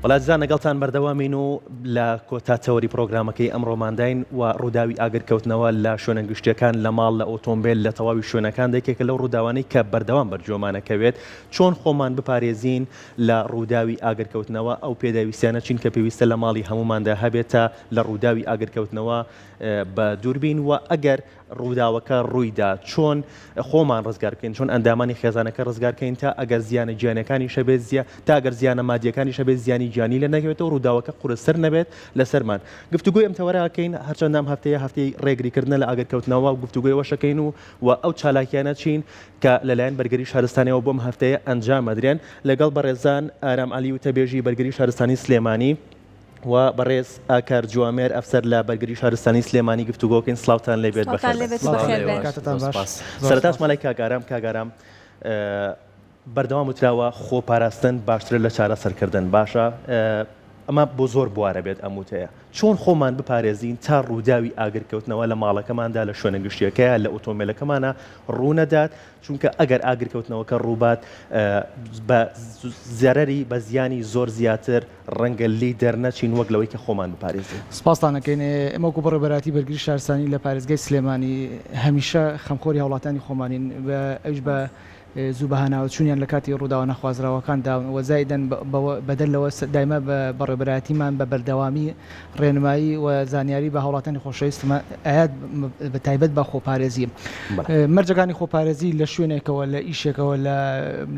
وەلا جزا نەگەڵتان بەردەوامین و لە کۆتا تەوەری پرۆگرامەکەی ئەمڕۆمانداین و ڕووداوی ئاگر کەوتنەوە لە شوێنە گشتیەکان لە ماڵ لە ئۆتۆمبێل لە تەواوی شوێنەکاندا یەکێکە لەو ڕووداوانەی کە بەردەوام بەرگوێمانەکەوێت چۆن خۆمان بپارێزین لە ڕووداوی ئاگر کەوتنەوە ئەو پێداویستیانە چین کە پێویستە لە ماڵی هەمووماندا هەبێت تا لە ڕووداوی ئاگر کەوتنەوە بە دووربین وە ئەگەر ڕووداوەکە ڕوویدا چۆن خۆمان ڕزگار بکەین چۆن ئەندامانی خێزانەکە ڕزگار کەین تا ئەگەر زیانە گیانەکانیش هەبێت زیا تا ئەگەر زیانە مادیەکانیش هەبێت زیانی گیانی لە نەکەوێتەوە ڕووداوەکە قورستر نەبێت لەسەرمان گفتوگۆی ئەم تەوەراکەین هەرچەند نام هەفتەیە هەفتەی ڕێگریکردنە لە ئاگر کەوتنەوە گفتوگۆی وەشەکەین و و ئەو چالاکیانە چین کە لەلایەن بەرگری شارستانیەوە بۆم هەفتەیە ئەنجام ئەدرێن لەگەڵ بەڕێزان ئارام عەلی وتەبێژی بەرگری شارستانی سلێمانی. و بەڕێز ئاکار جوامێر ئەفسەر لە بەرگری شارستانی سلێمانی گفتوگۆ کەین سڵاوتان لێ بێت سڵاوتان لێ بخێربێن. بێت و سڵاو لە بەخێر بێن. ئێوەش کاتتان زۆر باش سوپاس زۆر سەرەتا سوپاس. چوومە لای کاک ئارام کاک ئارام بەردەوام وتراوە خۆ پاراستن باشترە لە چارەسەر کردن باشە ئەمە بۆ زۆر بوارە بێت ئەم وتەیە چۆن خۆمان بپارێزین تا ڕووداوی ئاگر کەوتنەوە لە ماڵەکەماندا لە شوێنە گشتیەکەیا لە ئۆتۆمبێلەکەمانا ڕوو نەدات چونکە ئەگەر ئاگر کەوتنەوەکە ڕووبات بە زەرەری بە زیانی زۆر زیاتر ڕەنگە لێی دەرنەچین وەک لەوەی کە خۆمان بپارێزین. سپاستان ئەکەین، ئێمە وەکو بەڕێوەبەرایەتی بەرگری شارستانی لە پارێزگای سلێمانی هەمیشە خەمخۆری هاوڵاتیانی خۆمانین و ئەویش بە زوو بەهاناوەچوونیان لە کاتی ڕووداوە نەخوازراوەکان داون و زائیدەن بەدەر لەوە دایمە بەڕێوەبەرایەتیمان بە بەردەوامی ڕێنمایی و زانیاری بە هاوڵاتانی خۆشەویستمە ئاەت بە تایبەت بە خۆپارێزی مەرجەکانی خۆپارێزی لە شوێنێکەوە لە ئیشێکەوە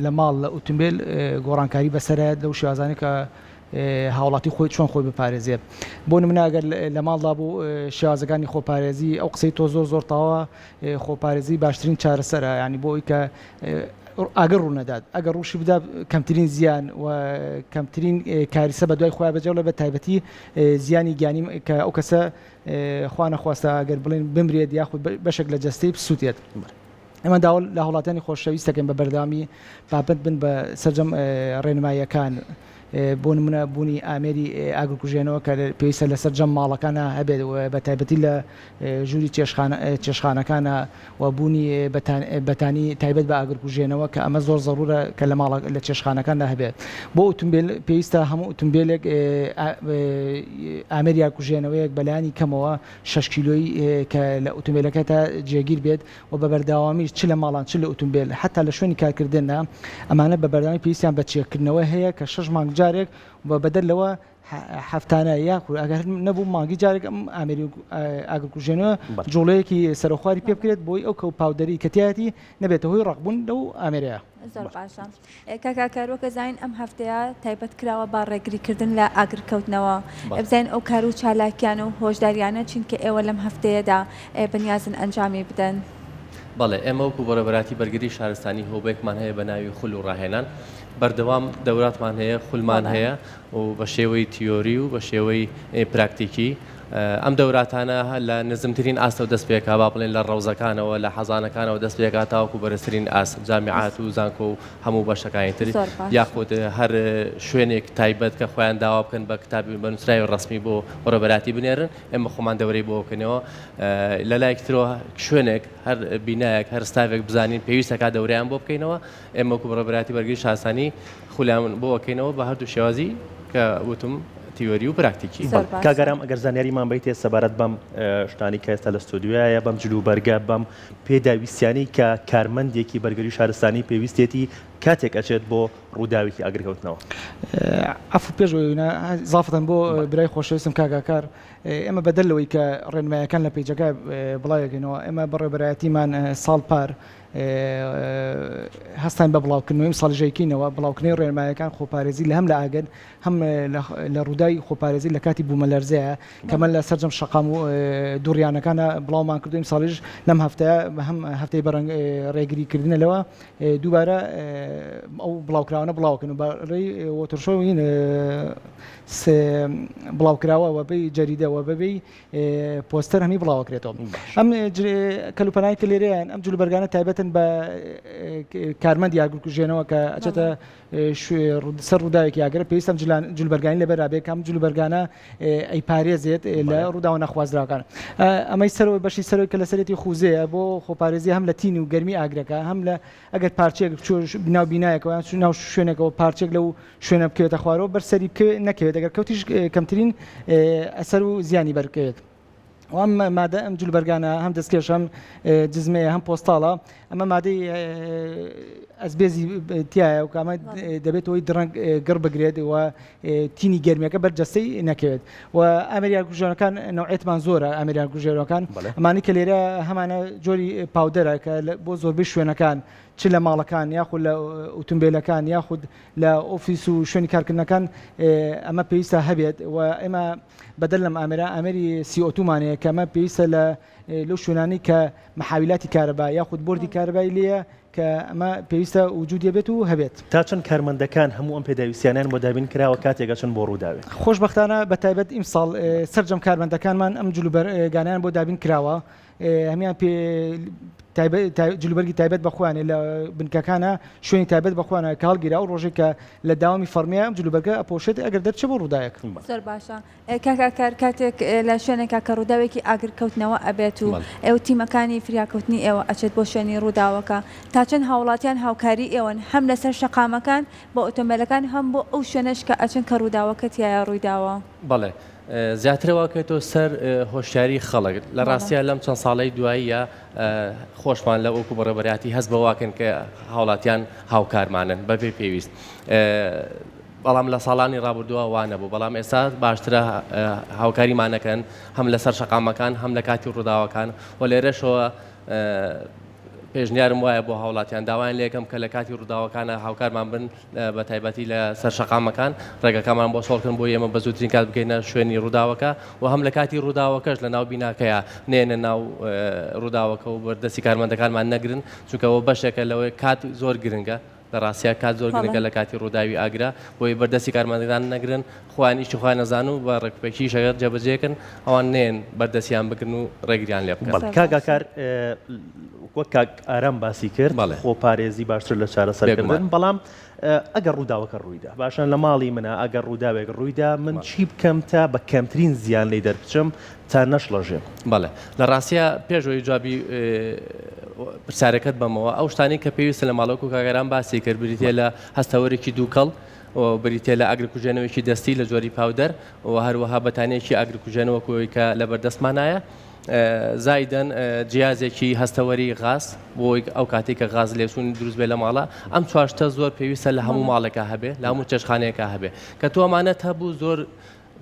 لە ماڵ لە ئوتمبیل گۆڕانکاری بەسەرایەت لەو شێوازانە کە هاوڵاتی خۆی چۆن خۆی بپارێزێت بۆ منناگەر لە ماڵدا بوو شێوازەکانی خۆپارێزی ئەو قسەی تۆ زۆر زۆر تاوە خۆپارێزی باشترین چارەسەرە ینی بۆی کە ئاگر ڕوونەدات ئەگەر ڕووشی بدا کەمترین زیان و کەمترین کاریسە بە دوای خۆیان بەجێڵێ بە تایبەتی زیانی گیانی کە ئەو کەسە خوانەخواستە ئەگەر بڵێن بمرێت یاخود بەشێک لە جەستەی بسووتێت. ئەمە داوە لە هەوڵاتانی خۆشەویست دەکەن بە بەرداوامی پاپەت بن بە سەرجەم ڕێنماییەکان. بۆ نمونە بوونی ئامێری ئاگرکوژێنەوە کە پێویستە لە سەرجەم ماڵەکان هەبێت و بە تایبەتی لە ژووری چێشخانەکان و بوونی بەتانی تایبەت بە ئاگرکوژێنەوە کە ئەمە زۆر زەڕوورە کە لە ماڵە لە چێشخانەکاندا هەبێت بۆ ئوتومبیل پێویستە هەموو ئوتومبیلێک ئامێری ئاگرکوژێنەوەیەک بەلانی کەمەوە شەش کیلۆیی کە لە ئوتومبیلەکەتە جێگیر بێت و بە بەردەوامیش چ لە ماڵان چ لە ئوتومبێل هەتا لە شوێنی کارکردندا ئەمانە بە بەردەوامی پێویستیان بە چێککردنەوە هەیە کە شەش مانگ جارێک و بەدەر لەوە هەفتانە یاخود ئەگەر نەبوو مانگی جارێک ئەم ئامێری ئاگرکوژێنەوە جوڵەیەکی سەرەخواری پێ بکرێت بۆی ئەو کەو پاودەری کە تیایەتی نەبێتە هۆی ڕەقبوون لەو ئامێرە. کاکە ئاکار وەک ئەزانین ئەم هەفتەیە تایبەت کراوە بە ڕێگریکردن لە ئاگرکەوتنەوە بزانین ئەو کار و چالاکیان و هۆشداریانە چین کە ئێوە لەم هەفتەیەدا بەنیازن ئەنجامی بدەن. بەڵێ ئێمە وەکو بەڕێوەبەراتی بەرگری شارستانی هۆبەیەکمان هەیە بە ناوی خول و ڕاهێنان بەردەوام دەوراتمان هەیە خولمان هەیە و بە شێوەی تیۆری و بە شێوەی پراکتیکی ئەم دەوراتانە لە نزمترین ئاستەوە دەست پێکا با بڵێن لە ڕەوزەکانەوە لە حەزانەکانەوە دەست پێکا تاوەکو بەرزترین ئاست جامیعات و زانکۆ و هەموو بەشەکانی تر زۆر باش. یاخود هەر شوێنێک تایبەت کە خۆیان داوا بکەن بە کتاب بە نووسراوی ڕەسمی بۆ بەڕێوەبەرایەتی بنێرن ئێمە خۆمان دەورەی بۆ بکەینەوە لە لایەکی ترەوە شوێنێک هەر بینایەک هەر ستافێک بزانین پێویستە کا دەورەیان بۆ بکەینەوە ئێمە وەکو بڕەبراتی بەرگری شارستانی خولامون بۆ ئەکەینەوە بە هەردوو شێوازی کە وتم تیۆری و پراکتیکی. بەڵێ کاک ئارام ئەگەر زانیاریمان بەیتێ سەبارەت بەم شتانەی کە ئێستا لە ستۆدیۆیایە بەم جل و بەرگە بەم پێداویستیانەی کە کارمەندێکی بەرگری شارستانی پێویستێتی کاتێک ئەچێت بۆ ڕووداوێکی ئاگرکەوتنەوە. عەفو پێش ئەوەی نا زافەتەن بۆ برای خۆشەویستم کاک ئاکار ئێمە بەدەر لەوەی کە ڕێنمایەکان لە پەیجەکە بڵاوی ئەکەینەوە ئێمە بەڕێوەبەرایەتیمان ساڵ پار هەستاین بە بڵاوکردنەوەی مسەڵژەیکینەوە، بڵاوکردنەوەی ڕێنمایەکان خۆپارێزی لە هەم لە ئاگر هەم لە ڕووداوی خۆپارێزی لە کاتی بوومەلەرزەیە کە من لە سەرجەم شەقام و دووڕیانەکانە بڵاومان کردووە ئیمساڵیش لەم هەفتەیە بە هەم هەفتەی بەرەنگ ڕێگری کردنە لەوە دووبارە ئەو بڵاوکراوانە بڵاوکەن و بەڕێی وەترشۆین بڵاوکراوە وەبەی جەریدەوە بەبێ پۆستەر هەنی بڵاوەکرێتەوە ئەم کەلوپەنای کە لێرەیان ئەم جلوبەرگانە تایبەتن بە کارمەند یاگرکوژێنەوە کە ئەچێتە سەر ڕووداوێکی یاگرە پێویستم جلبەرگانی لەبەرابێکم جلوبەرگانە ئەی پارێزێت لە ڕووداوە نەخوازراکان ئەمەی سەرەوەی بەشی سەرۆی کە لەسەرێتی خوزەیە بۆ خۆپارێزی هەم لە تین و گەرمی ئاگرەکە هەم لە ئەگەر پارچەیەک بچووە ناو بینایەکەوە یان چوو ناو شوێنێکەوە پارچێک لەو شوێنە بکەوێتە خوارەوە بەر سەری بکەوێت نەکەوێت ئەگەر کەوتیش اه، کەمترین اه، ئەسەر و زیانی بەرکەوێت. و ئەم مادە ئەم جلوبەرگانە هەم دەستکێش هەم اه، جزمەیە هەم پۆستاڵە ئەمە مادەی اه، ئەسبێزی اه، تایە و کە ئەمە بەڵێ. اه، دەبێت هۆی دڕەنگ اه، گڕ بگرێت و تینی گەرمیەکە بەر جەستەی نەکەوێت و ئەمریان کوژەکان نوعێتمان زۆرە ئەمریان کوژێرەکان ئەمانی کە لێرە هەمانە جۆری پاودەرە کە بۆ زۆربەی شوێنەکان چ لە ماڵەکان یاخود لە ئوتمبیلەکان یاخود لە ئۆفیس و شوێنی کارکردنەکان ئەمە پێویستە هەبێت و ئێمە بەدەر لەم ئامرا ئامری سیئۆتومانەیە کەمە پێویستە لە لەو شوێنانەی کە محاویلاتی کارەبا یاخود بۆردی کارەبای لێیە کە ئەمە پێویستە وجودی بێت و هەبێت. تا چەند کارمەندەکان هەموو ئەم پێداویستیانەیان بۆ دابین کراوە کاتێک ئەچن بۆ ڕووداوێک؟ خۆشبەختانە بە تایبەت ئیمساڵ سەرجەم کارمەندەکانمان ئەم جلوبەرگانەیان بۆ دابین کراوە هەمیان پێ جلوبەرگی تایبەت بە خۆیانێ لە بنکەکانە شوێنی تایبەت بە خۆیانە کاڵگیرا و ڕۆژێک کە لە داوامی فەرمیە ئەم جلوبەرگە ئەپۆشێت ئەگەر دەرچێ بۆ ڕووداەک. زۆر باشە کاک ئاکار کاتێک لە شوێنێکا کە ڕووداوێکی ئاگر کەوتنەوە ئەبێت و ئێوە تیمەکانی فریاکەوتنی ئێوە ئەچێت بۆ شوێنی ڕووداوەکە تا چەند هاوڵاتیان هاوکاری ئێوەن هەم لەسەر شەقامەکان بۆ ئۆتۆمبێلەکان هەم بۆ ئەو شوێنەش کە ئەچن کە ڕووداوەکە تیایا ڕوویداوە؟ بەڵێ زیاتر ئەوە کەوتۆ سەر هۆشیاری خەڵک لە ڕاستیە لەم چەند ساڵی دواییە خۆشمان لە وەکو بەڕێبەراتی هەست بەواکەن کە هاوڵاتیان هاوکارمانن بەبێ پێویست بەڵام لە ساڵانی ڕابردووە وا نەبوو، بەڵام ئێستا باشترە هاوکاریمان ئەکەن هەم لەسەر شەقامەکان هەم لە کاتی ڕووداوەکان و لێرەشەوە پێشنیارم وایە بۆ هاوڵاتیان داوایان لێ ئەکەم کە لە کاتی ڕووداوەکانە هاوکارمان بن بە تایبەتی لە سەر شەقامەکان ڕێگەکانمان بۆ سۆڵکن بۆ ئێمە بە زووترین کات بکەینە شوێنی ڕووداوەکە و هەم لە کاتی ڕووداوەکەش لە ناو بیناکەیە نێنە ناو ڕووداوەکە و بەردەستی کارمەندەکانمان نەگرن چونکەەوە بەشێکە لەوەی کات زۆر گرنگە لە ڕاستیا کات زۆر گرنگە لە کاتی ڕووداوی ئاگرە، بۆیە بەردەستی کارمەندەکان نەگرن، خۆیان ئیشی خۆیان نەزان و بە ڕێکوپێکی ئیشەکە جێبەجێکەن، ئەوان نەیەن بەردەستیان بگرن و ڕێگریان لێ بکەن. بەڵێ کاک ئاکار، وەک کاک ئارام باسی کرد، خۆپارێزی باشتر لە چارەسەرکردن، بەڵام ئەگەر ڕووداوەکە ڕوویدا، باشە لە ماڵی منە، ئەگەر ڕووداوێک ڕوویدا من چی بکەم تا بە کەمترین زیان لێی دەربچم، تا نەشڵەژێ. بەڵێ لە ڕاستیا پێش ئەوەی جوابی پرسیارەکەت بەمەوە ئەو شتانەی کە پێویستە لە ماڵۆک و کاگەران باسی کرد بریتە لە هەستەوەرێکی دووکەڵ بریتە لە ئاگرکوژێنەوەیکی دەستی لە جۆری پاودەر و هەروەها بەتانیەکی ئاگرکوژێنەوەکەوەی کە لە بەردەستمانایە زایدەن جیازێکی هەستەوەری غاز بۆی ئەو کاتی کە غاز لێچوونی دروست بێ لە ماڵە ئەم چواشتە زۆر پێویستە لە هەموو ماڵێکە هەبێ لە هەموو چێشخانەیەەکە هەبێ کە تۆمانەت هەبوو زۆر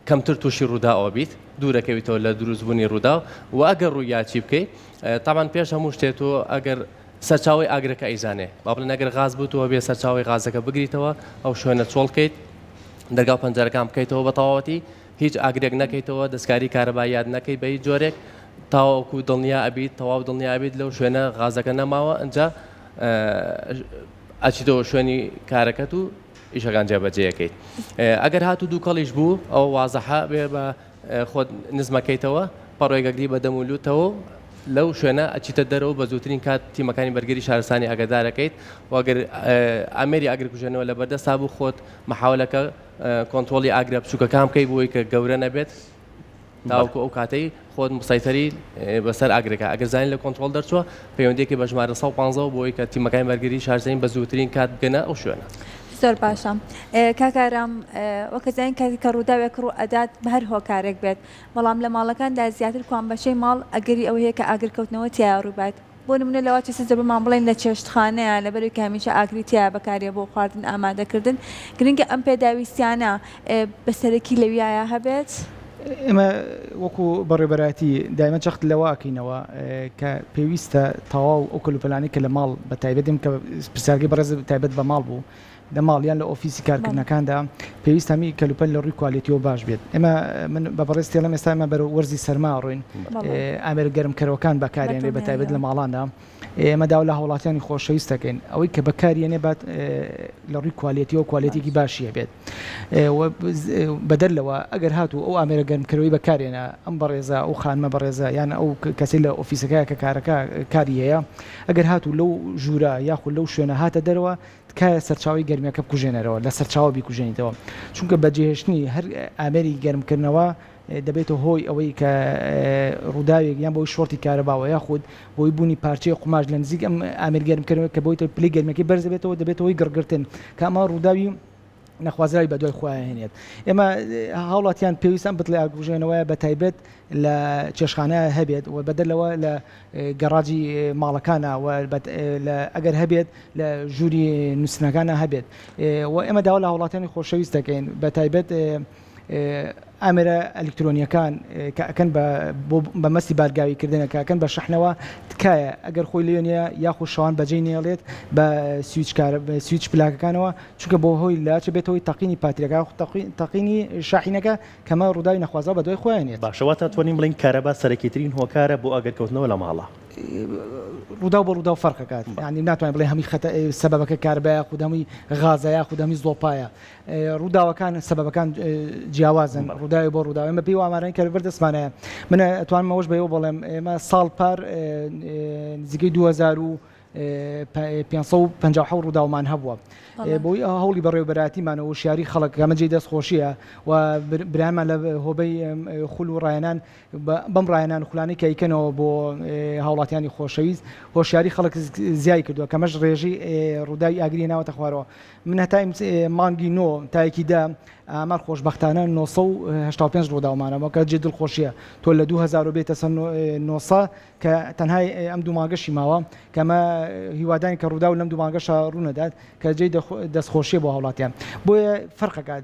کەمتر تووشی ڕوودا ئەوبیت دوورەکەویتەوە لە دروستبوونی ڕوودا و ئەگەر ڕوویاچی بکەیت تامان پێش هەموو شتێت و ئەگەر سەرچاوی ئاگرەکە ئەیزانێ با بڵێ نەگەر غاز بووتەوە بێ سەرچاوی غازەکە بگریتەوە ئەو شوێنە چۆڵکەیت دەرگا پەنجەرەکان بکەیتەوە بە تەواوەتی هیچ ئاگرێک نەکەیتەوە دەستکاری کارەبا یاد نەکەی بە هیچ جۆرێک تاوەکو دڵنیا ئەبیت تەواو دڵنیا ئەبیت لەو شوێنە غازەکە نەماوە ئەجا ئەچیتەوە شوێنی کارەکەت و ئیشەکان جێبەجێ ئەکەیت ئەگەر هاتوو دووکەڵیش بوو ئەوە وازەحە بێ بە خۆت نزمەکەیتەوە پەڕۆێگەگری بە دەم و لوتەوە لەو شوێنە ئەچیتە دەرەوە بە زووترین کات تیمەکانی بەرگری شارستانی ئەگەدارەکەیت وەگەر ئەمێری ئاگرکوژێنەوە لە بەردەستا بوو خۆت مححاولەکە کۆنتترۆلی ئاگرە بچووکەکان بکەی بۆی کە گەورە نەبێت تاوەکو ئەو کاتەی خۆت مسایتەری بەسەر ئاگرەکە ئەگەر زانین لە کۆنتترۆل دەرچووە پەیوەندێکی بە ژمارە 150 بۆی کە تیمەکانی بەرگری شارزین بە زووترین کات بگەنە ئەو شوێنە. زۆر باشە کاکارام وەکەزانین کاتی کە ڕووداوێک ڕوو ئەدات بە هەر هۆکارێک بێت بەڵام لە ماڵەکاندا زیاتر کوان بەشەی ماڵ ئەگەری ئەوەیە کە ئاگرکەوتنەوە تایە ڕووبات بۆ نمونە لە وات سزە بمان بڵێن لە چێشتخانەیە لەبەرەوەی کە هەمیشە ئاگری تیایە بەکارێ بۆ خواردن ئامادەکردن گرنگە ئەم پێداویستیانە بە سەرەکی لەویایە هەبێت. ئێمە وەکو بەڕێبەرایەتی دایمە چەخت لەوە ئەکەینەوە کە پێویستە تاواو ئەو کەلوپەلانەی کە لە ماڵ بە تایبەت دێن کە پرسیارگەی بەڕێز تایبەت بە ماڵ بوو، لە ماڵ یان لە ئۆفیسی کارکردنەکاندا پێویستە هەمی کەلوپەل لە ڕووی کوالێتیەوە باش بێت ئێمە من بە بەڕێز تێڵم ئێستا ئمە بەرە وەرزی سەرما ڕوین ئامێر گەرمکەرەوەکان بەکارێن لێ بەتابێت لە ماڵاندا ئێمە داو لە هاوڵاتیانی خۆشەویست دەکەین ئەوەی کە بەکارێنێ بات لە ڕووی کوالێتیەوە کوالێتێکی باشیە بێت بەدەر لەوە ئەگەر هاتو ئەو ئامێرە گەرمکەرەوەی بەکارێنە ئەم بەڕێزە ئەو خانمە بەڕێزە یان ئەو کەسی لە ئۆفیسەکە کە کارەکە کاری هەیە ئەگەر هاتو لەو ژوورە یاخود لەو شوێنە هاتە دەرەوە تکایە سەرچاوەی گەرمیەکە بکوژێنەرەوە لە سەرچاوە بیکوژێنیتەوە چونکە بە جێهێشتنی هەر ئامێری گەرمکردنەوە دەبێتە هۆی ئەوەی کە ڕووداوێک یان بۆی شۆرتی کارەباوە یاخود بۆی بوونی پارچەی قوماش لە نزیک ئەم ئامێر گەرمکردنەوە کە بۆیتە پلی گەرمەکەی بەرزەبێتەوە دەبێتەوەی گڕگرتن کە ئەمە ڕووداوی نەخوازراوی بەدوای خۆیان هێنێت ئێمە هاوڵاتیان پێویست ئەم بتڵی ئاگبژێنەوەیە بە تایبەت لە چێشخانە هەبێت و بەدەر لەوە لە گەڕاجی ماڵەکانە ئەگەر هەبێت لە ژووری نووسنەکانە هەبێت و ئێمە داوا لە هاوڵاتیانی خۆشەویست دەکەین بە تایبەت ئامێرە ئەلیکترۆنیەکان کە ئەکەن بە بۆ بە مەسی بارگاوی کردنە کاکەن بە شحنەوە تکایە ئەگەر خۆی لێ نیە یاخو شەوان بەجێی نێڵێت بە سویچکار سویچ پلاکەکانەوە چونکە بۆ هۆی لاچ بێتەوەی تەقینی پاتریەکە تەقینی شاحینەکە کەمە ڕووداوی نەخوازە بە دوای خۆیان نێت باشەوە تا توانین بڵین کارەبا سەرەکیترین هۆکارە بۆ ئەگەر کەوتنەوە لە ماڵە. ڕووداو بە ڕووداو فەرقەکات ینی ناتوانین بڵێ هەمی خەتە سەبەکە کاربە یاخود هەمووی غازە یاخود هەمی زڵۆپایە ڕووداوەکان سەبەبەکان جیاوازن ڕووداوی بۆ ڕووداوی بە پێی ئامارانی کە لەبەر دەستمانەیە من ئەتوانم ئەوەش بەەوە بڵێم ئێمە ساڵ پار نزیکەی 2000 و 550 ڕووداومان هەبووە بۆی هەوڵی بەڕێوبەراتیمان و شاری خەڵک گەمەجێ دەست خۆشیە و برامان لە هۆبەی خول و ڕایەنان بەم ڕایەنان خولانی کەیکەنەوە بۆ هاوڵاتیانی خۆشەویست هۆشیاری خەڵک زیای کردووە کەمەش ڕێژی ڕووداوی ئاگری ناوەتە خوارەوە من هەتای مانگی نۆ تایەکی دە ئامار خۆشببختانە 1970 ڕووداومانەوە کە جێ دڵخۆشیە تۆ لە 2000 بێتە سەر 900 کە تەنهای ئەم دوماگەشی ماوە کەمە هیوادان کە ڕوودا و لەم دوماگەشە ڕوونەدات کە جێ دەستخۆشیە بۆ هاوڵاتیان بۆیە فەرقەکات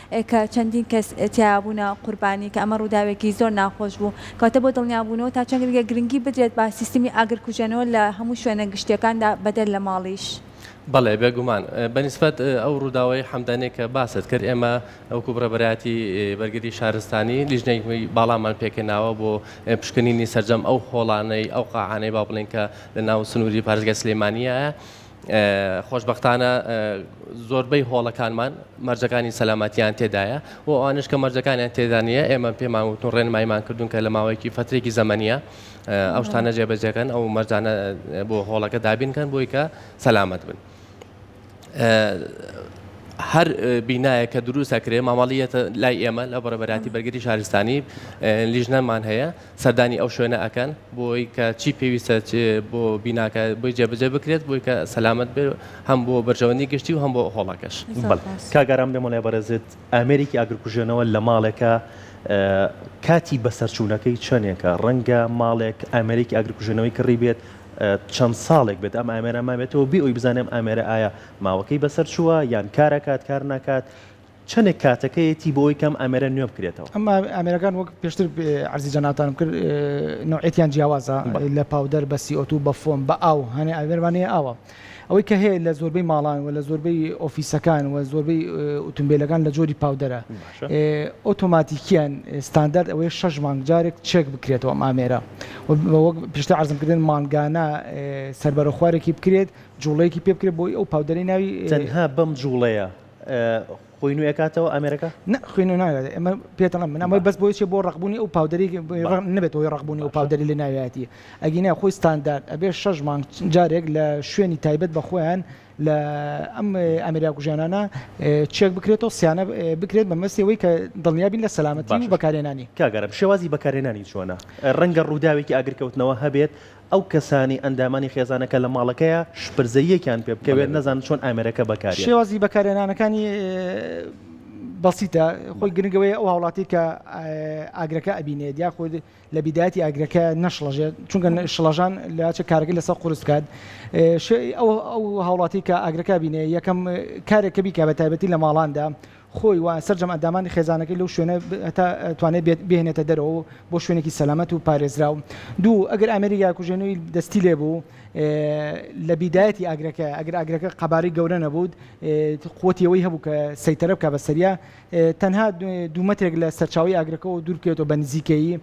کە چەندین کەس تیایا بوونە قوربانی، کە ئەمە ڕووداوێکی زۆر ناخۆش بوو. کەواتە بۆ دڵنیابوونەوە تا چەند ریگە گرنگی بدرێت بە سیستمی ئاگرکوژێنەوە لە هەموو شوێنە گشتییەکاندا بەدەر لە ماڵیش؟ بەڵێ بێگومان. بە نیسبەت ئەو ڕووداوەی حەمدانییە کە باست کرد، ئێمە وەکوو ڕێبەرایەتی بەرگری شارستانی لیژنەی باڵامان پێکهێناوە بۆ پشکنینی سەرجەم ئەو هۆڵانەی، ئەو قاعانەی با بڵێین کە لەناو سنووری پارێزگای سلێمانییایە. خۆشبەختانە زۆربەی هۆڵەکانمان مەرجەکانی سەلامەتیان تێدایە و ئەوانش کە مەرجەکانیان تێدا نیە ئێمە پێمان وتن ڕێنمایمان کردوون کە لە ماوەیەکی فترێکی زەمەنیە ئەو شتانە جێبەجێکەن ئەو مەرجانە بۆ هۆڵەکە دابینکەن بۆی کە سەلامەت بن. هەر بینایە کە دروستەکرێ مامەڵیەتە لای ئێمە لە بەڕێبەراتی بەرگری شارستانی لیژنەمان هەیە سەردانی ئەو شوێنە ئەکەن بۆی کە چی پێویستە بۆ بیناکە بۆی جێبجێ بکرێت بۆی کە سەلامت بێت هەم بۆ بەرژەوەندی گشتی و هەم بۆ هۆڵەکەش کاگەرام لێ مەڵێ بەرەزت ئامێرێکی ئاگرکوژێنەوە لە ماڵێکە کاتی بەسەرچوونەکەی چەندێکە ڕەنگە ماڵێک ئامێرێکی ئاگرکوژێنەوەی کڕی بێت چەند ساڵێک بێت ئەم ئامێرە مابێتەوە بێ ئەوی بزانێم ئامێرە ئایا ماوەکەی بەسەر چووە یان کارەکات کار ناکات چەنێک کاتەکەیەتی بۆ ئەوەی کە ئەم ئامێرە نوێ بکرێتەوە؟ ئەم ئامێرەکان وەک پێشتر عەرزی جەنابتانم کرد نەوعیەتیان جیاوازە لە پاودەر بە سی ئۆ توو بە فۆم بە ئاو هەنێ ئامێرمان هەیە ئاوە ئەوەی کە هەیە لە زۆربەی ماڵان و لە زۆربەی ئۆفیسەکان و زۆربەی ئوتومبیلەکان لە جۆری پاودەرە ئۆتۆماتیکیان ستاندارد ئەوەیە شەش مانگ جارێک چێک بکرێتەوە ئەم ئامێرە وەک پێشتر عەرزم کردن مانگانە سەربەرە خوارێکی بکرێت جوڵەیەکی پێ بکرێت بۆی ئەو پاودەرەی ناوی تەنها بەم جوڵەیە خوینو ئەکاتەوە ئامێرەکە نە خوینو ناوێت ئەمە پێتەڵم من ئەمە بەس بۆیچێ بۆ ڕقبوونی ئەو پاودەری نەبێت هۆی ڕقبوونی ئەو پاودەری لە ناویەتی ئەگینا خۆی ستاندارد ئەبێ شەش مانگ جارێک لە شوێنی تایبەت بە خۆیان لە ئەم ئەمریا کوژیانانە چێک بکرێتەوە سیانە بکرێت بە مەسیەوەی کە دڵنیابین لە سەلامەتی بەکارێنانی کاگەرم شێوازی بەکارێنانی چۆنە ڕەنگە ڕووداوێکی ئاگرکەوتنەوە هەبێت ئەو کەسانی ئەندامانی خێزانەکە لە ماڵەکەیە شپرزەییەکیان پێ بکەوێت نەزانن چۆن ئامێرەکە بەکارێ. شێوازی بەکارێنانەکانی بەسیتە خۆی گرنگ ئەوەیە ئەو هاوڵاتی کە ئاگرەکە ئەبینێت یاخود لە بیداتی ئاگرەکە نەشڵەژێت چونکە شڵەژان لاچە کارگە لەسەر قرس بکات ئەو هاوڵاتی کە ئاگرەکە بینێ یەکەم کارێکە بیکە بە تایبەتی لە ماڵاندا خۆی و سەرجەم ئەندامانی خێزانەکەی لەو شوێنە هەتا توانێت بێت بێنێتە دەرەوە بۆ شوێنێکی سەلامەت و پارێزراو دوو ئەگەر ئامێری یاکوژێنەوەی دەستی لێ بوو لە بیدایەتی ئاگرەکە ئەگەر ئاگرەکە قەبارەی گەورە نەبوود قوتی ئەوەی هەبوو کە سەیتەرە بکە بە سەریا تەنها دوو مەترێک لە سەرچاوی ئاگرەکەەوە دوورکەوێتەوە بە نزیکەیی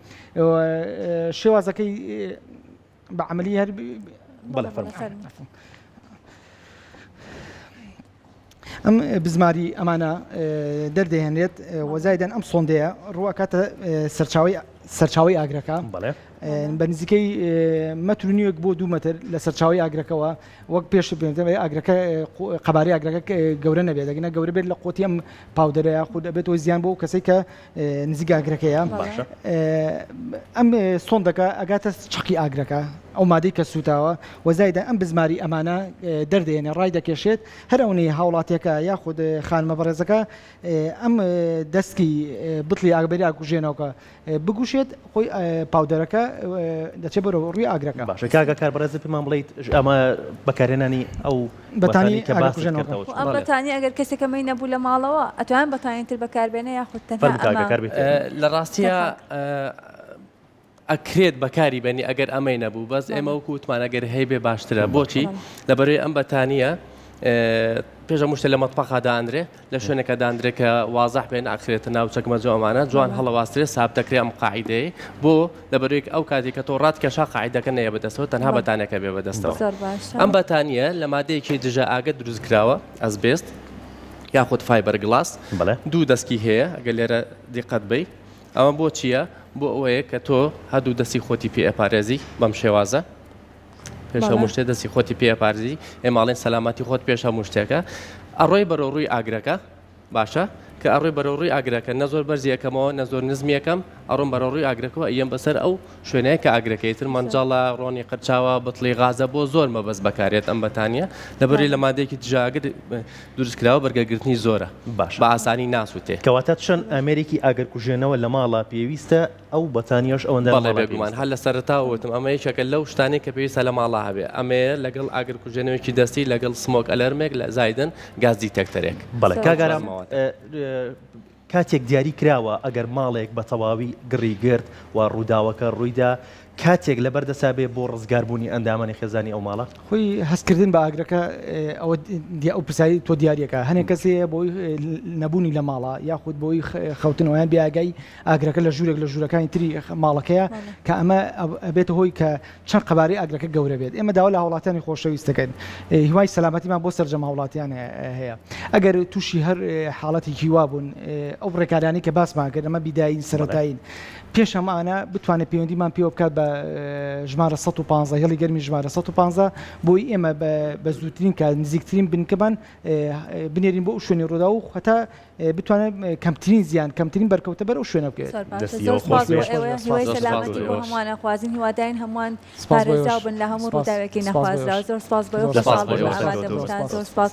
شێوازەکەی بە عملی هەر بەڵێ ئەم بزماری ئەمانە دەردەهێنێت وەزایدەن ئەم سۆندەیە ڕوواکاتە سەرچاوی سەرچاوی ئاگرەکە بە نزیکەی مەتر نیوەک بۆ دوو مەتر لە سەرچاوی ئاگرەکەەوە وەک پێش بێنەوە ئاگرەکە قەبارەی ئاگرەکە گەورە نەبێت دەگەنە گەورە بێت لە قوتی ئەم پاودەرەیە خود دەبێت وە زیان بۆ کەسی کە نزیک ئاگرەکەیە ئەم سۆندەکە ئەگاتە چقی ئاگرەکە ئەو مادەی کە سووتاوە وەزایدا ئەم بزماری ئەمانە دەردێنێ ڕای دەکێشێت هەر ئەونەی هاوڵاتیەکە یاخود خانمە بەڕێزەکە ئەم دەستکی بتڵی ئاگبەری ئاکوژێنەوەکە بگوشێت خۆی پاودەرەکە دەچێت بەرەوە ڕووی ئاگرەکە باشەکە کار بەڕێزی پێمان بڵیت ئەمە بەکارێنانی ئەو بەتانی کە باست کردەوە چۆن ئەم بەتانی ئەگەر کەسێکە مەی نەبوو لە ماڵەوە ئەتوان بەتانی تر بەکاربێنە یاخود تەنها لە ڕاستیە ئەکرێت بەکاری بەنی ئەگەر ئەمەی نەبوو بەس ئێمە وەکو وتمانە گەر هەی بێ باشترە بۆچی لەبەروی ئەم بەتانیە پێشە مشتە لە مەتپەخادانرێ لە شوێنەکە داندرێ کە وازح بێ ناکرێتە ناو چەکمەجۆ ئەمانە جوان هەڵەواسترێ ساب دەکرێ ئەم قاعیدەیە بۆ لەبەرێک ئەو کاتی کە تۆ ڕات کێشا قاعدەکە نەیە بەدەستەوە تەنها بەتانەکە بێ بەدەستەوە ئەم بەتانە لە مادەیەکی دژە ئاگە دروست کراوە ئەس بێست یاخود فایبەر گلاس دوو دەستکی هەیە ئەگە لێرە دیقەت بی ئەمە بۆ چییە بۆ ئەوەیە کە تۆ هەردوو دەستی خۆتی پێ ئەپارێزی بەم شێوازە پێش هەموو شتێ دەستی خۆتی پێ پارزی ئێماڵێن سەلامەتی خۆت پێش هەموو شتێکە ئەڕۆی بەرەو ڕووی ئاگرەکە باشە کە ئەڕۆی بەرەو ڕووی ئاگرەکە نە زۆر بەرزیەکەمەوە نە زۆر نزمیەکەم ئەڕۆم بەرەو ڕووی ئاگرەکەەوە ئەم بەسەر ئەو شوێنەیە کە ئاگرەکەی تر مەنجاڵە ڕۆنی قەرچاوە بتڵی غازە بۆ زۆر مەبەست بەکارێت ئەم بەتانە لەبەری لە مادێکی دژاگر دروستکراوە بەرگەگرتنی زۆرە باش بە ئاسانی ناسووتێ کەواتە چەند ئامێرێکی ئاگرکوژێنەوە لە ماڵە پێویستە ئەو بەتانیەش ئەوەندە بەڵێ بێگومان هەر لەسەرەتاوە وتم ئەمە یەکێکە لەو شتانەی کە پێویستە لە ماڵا هەبێ ئەمەیە لەگەڵ ئاگرکوژێنەوەیەکی دەستی لەگەڵ سمۆک ئەلەرمێک لە زایدن گاز دیتەکتەرێک بەڵێ کاک ئارام کاتێک دیاری کراوە ئەگەر ماڵێک بە تەواوی گڕی گرت و ڕووداوەکە ڕوویدا کاتێک لەبەر دەسا بێ بۆ ڕزگاربوونی ئەندامانی خێزانی ئەو ماڵە خۆی هەستکردن بە ئاگرەکە ئەوە دی ئەو پرسایی تۆ دیارەکە هەنێک کەسەیە بۆی نەبوونی لە ماڵە یاخود بۆی خەوتنەوەیان بیاگای ئاگرەکە لە ژوورێک لە ژوورەکانی تری ماڵەکەیە کە ئەمە ئەبێتە هۆی کە چەند قەبارەی ئاگرەکە گەورە بێت ئێمە داوا لە هاوڵاتیانی خۆشەویستەکەن هیوای سەلامەتیمان بۆ سەرجەم هاوڵاتیان هەیە ئەگەر تووشی هەر حاڵەتی هیوا بوون ئەو ڕێکارانی کە باسمان کرد ئەمە بیداین سەرەتاین پێش ئەمانە بتوانێت پەیوەندیمان پێوە بکات بە ژمارە 115 هێڵی گەرمی ژمارە 115 بۆی ئێمە بە زووترین کار نزیکترین بنکەمان بنێرین بۆ شوێنی ڕوودا و خەتا بتوانێت کەمترین زیان کەمترین بەرکەوتە بەر و شوێنە بکەێت هیوادارین هەمووان بن لە هەموو ڕووداوێکی نەخوازرا زۆر سپاس بۆ سپاس